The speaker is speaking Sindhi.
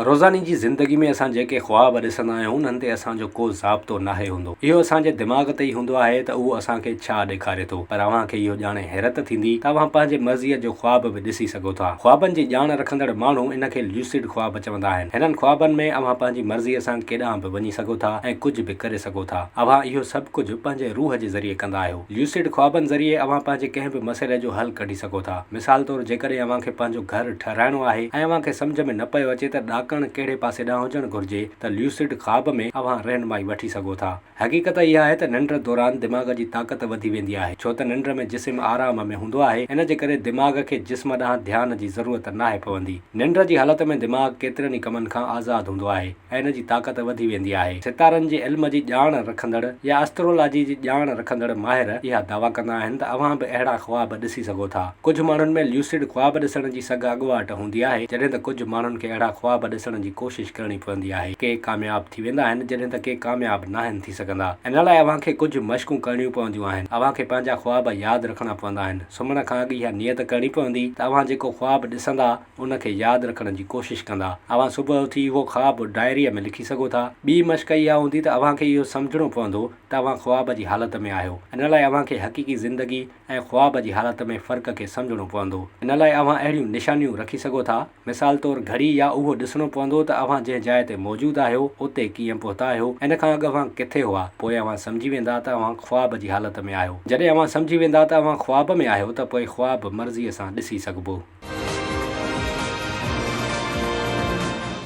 روزاني جي زندگي ۾ اسان جيڪي خواب ڏسندا آهيون انهن تي اسان جو ڪو ضابطو ناهي هوندو. اهو اسان جي دماغ تي ئي هوندو آهي ته اهو اسان کي ڇا ڏيکاري ٿو. پر اوهان کي اهو ڄاڻي حيرت ٿيندي ته اوهان پنهنجي مرضيء جو خواب به ڏسي سگهو ٿا. خوابن جي ڄاڻ رکندڙ ماڻهو ان کي ليوسڊ خواب چوندا آهن. هنن خوابن ۾ اوهان پنهنجي مرضيء سان ڪيڏانهن به وڃي سگهو ٿا ۽ ڪجهه به ڪري سگهو ٿا. اوهان اهو سڀ ڪجهه پنهنجي روح جي ذريعي ڪندا آهيو. ليوسڊ خوابن ذريعي اوهان پنهنجي ڪنهن به مسئلي جو حل ڪڍي سگهو ٿا. مثال طور جيڪڏهن اوهان کي پنهنجو گهر ٺهرائڻو آهي ۽ اوهان کي سمجهه ۾ نه پيو اچي ته ڏاڪڻ ڪهڙي پاسي ڏانهن هجڻ گهرجي ته ليوسڊ خواب ۾ اوهان رهنمائي وٺي سگهو ٿا. حقيقت اها آهي ته ننڊ دوران دماغ جي طاقت وڌي ويندي آهي ڇو ته ننڊ ۾ جسم آرام ۾ هوندو آهي ان جي ڪري دماغ کي جسم ڏانهن ڌيان جي ضرورت ناهي پوندي. ننڊ جي حالت ۾ دماغ ڪيترن ئي ڪمن کان آزاد هوندو آهي. ۽ ان جي طاقت وڌي ويندي آهي. ستارن جي علم جي ڄاڻ رکندڙ يا اسٽرولاجي جي ڄاڻ رکندڙ ماهر اها دعويٰ ڪندا آهن ته اوهان به اهڙا خواب ڏسي سگهو ٿا. ڪجهه ماڻهن ۾ ليوسڊ خواب ڏسڻ جي سگهه اڳواٽ هوندي آهي، جڏهن ته ڪجهه ماڻهن کي اهڙا خواب ڏسڻ جي ڪوشش ڪرڻي پوندي آهي. ڪي ڪامياب ٿي ويندا آهن، جڏهن ته ڪي ڪامياب ناهن ٿي سگهندا. ان لاء اوهان کي ڪجهه مشقون ڪرڻيون پونديون آهن. اوهان کي پنهنجا خواب ياد رکڻا پوندا آهن. سمهڻ کان اڳ اها نيت ڪرڻي پوندي ته اوهان جيڪو خواب ڏسندا، ان کي ياد رکڻ جي ڪوشش ڪندا. اوهان صبح اٿي اهو خواب ڊائريء ۾ لکي سگهو ٿا. ٻي مشق اها هوندي ته اوهان کي اهو سمجهڻو پوندو ته اوهان خواب جي حالت ۾ آهيو. ان لاء اوهان کي حقيقي زندگي ۽ خواب جي حالت ۾ فرق کي سمجهڻو پوندو. ان لاء اوهان اهڙيون نشانيون رکي سگهو ٿا. مثال طور گهڙي يا اهو ڏسڻو پوندو ته اوهان جنهن جاء تي موجود آهيو اتي ڪيئن پهتا آهيو. ان کان اڳ اوهان ڪٿي هئا. پوء اوهان سمجهي ويندا ته اوهان. خواب جي حالت ۾ آهيو. جڏهن اوهان سمجهي ويندا ته اوهان خواب ۾ آهيو ته پوء خواب مرضيء سان ڏسي سگهبو.